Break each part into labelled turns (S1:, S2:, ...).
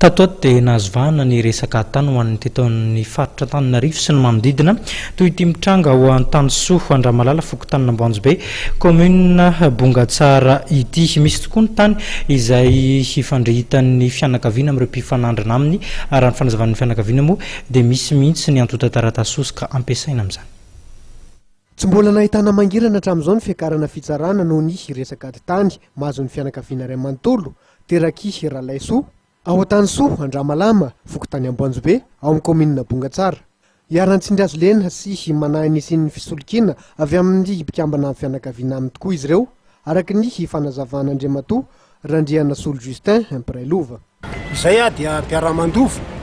S1: Tato ato dia nahazo vahana ny resaka tany ho an'ny teto amin'ny faritra Antananarivo sy ny manodidina toy ity mitranga ao Antanisoa Andramalala fokontany Namboanjobe kaominina Bongatsara ity. Misy tokoa ny tany izay hifandrehitan'ny fianakaviana amin'ireo mpifanandrina aminy. Raha ny fanazavan'ny fianakaviana moa dia misy mihitsy ny antontan-taratasy hosoka ampiasaina amin'izany.
S2: Tsy mbola nahitana mangirana hatramin'izao ny fiakarana fitsarana noho ny resaka ady tany mahazo ny fianakaviana iray manontolo Teraky Ralaisoa, ao Antanisoa Andramalama, fokontany Amboanjobe, ao amin'ny kaominina Bongatsara. Iharan-tsindrihazo lena sy manahy nisian'ny fisolokiana avy amin'ny mpikambana fianakaviana aminy tokoa izy ireo, araka ny fanazavan'Andriamatoa Randrianasolo Justin, mpiray lova. Izay aho dia
S3: mpiara-mandova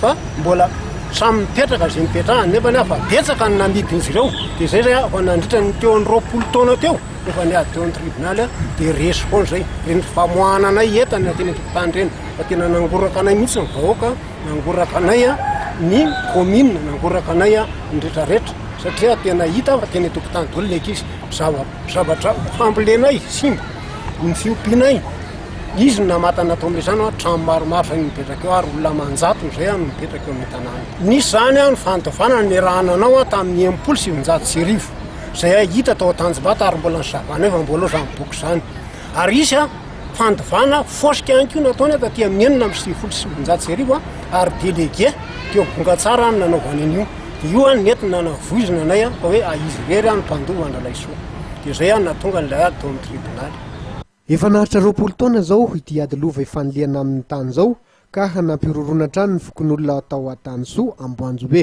S3: fa mbola samy mipetraka izay nipetrahany nefa ny fa betsaka ny namidin'izy ireo dia izay zay afa nandritra ny teo amin'ny roapolo taona teo efa niady teo amin'ny tribonaly dia resy foana izay reny famoahana anay entana teny an-tokotany ireny fa tena nangoraka anay mihitsy ny vahoaka nangoraka anay ny komina nangoraka anay ny retraretra satria tena hita fa teny an-tokotany daholo ny ankizy zavatra fambolenay simba ny fiompianay Izy no namata an'i Natomezaha no trano maromaro izay no mipetraka eo ary olona aman-jatony izay no mipetraka eo amin'ny tanàna. Nisy izany ny fanodavana niarahana anao tamin'ny enimpolo sy sivinjato sy arivo izay hita tao Tanjombato ary mbola ny zava-nitranga efa mbola ao izany boky izany. Ary hisy fanodavana fosika ihany koa nataony taty amin'ny enina amby sivifolo sy sivinjato sy arivo ary delege teo Bongatsara no nanaovany an'io. Dia io no nety nanavoizina anay fa hoe izy irery no mpandova an-dRalaisoa. Dia izay no nahatonga an'ilay ady tao amin'ny tribonaly. Efa naharitra
S2: roapolo taona izao ity ady lova ifanilihana amin'ny tany izao ka nampihorohoroana hatrany ny fokonolona tao Antanisoa, Amboanjobe.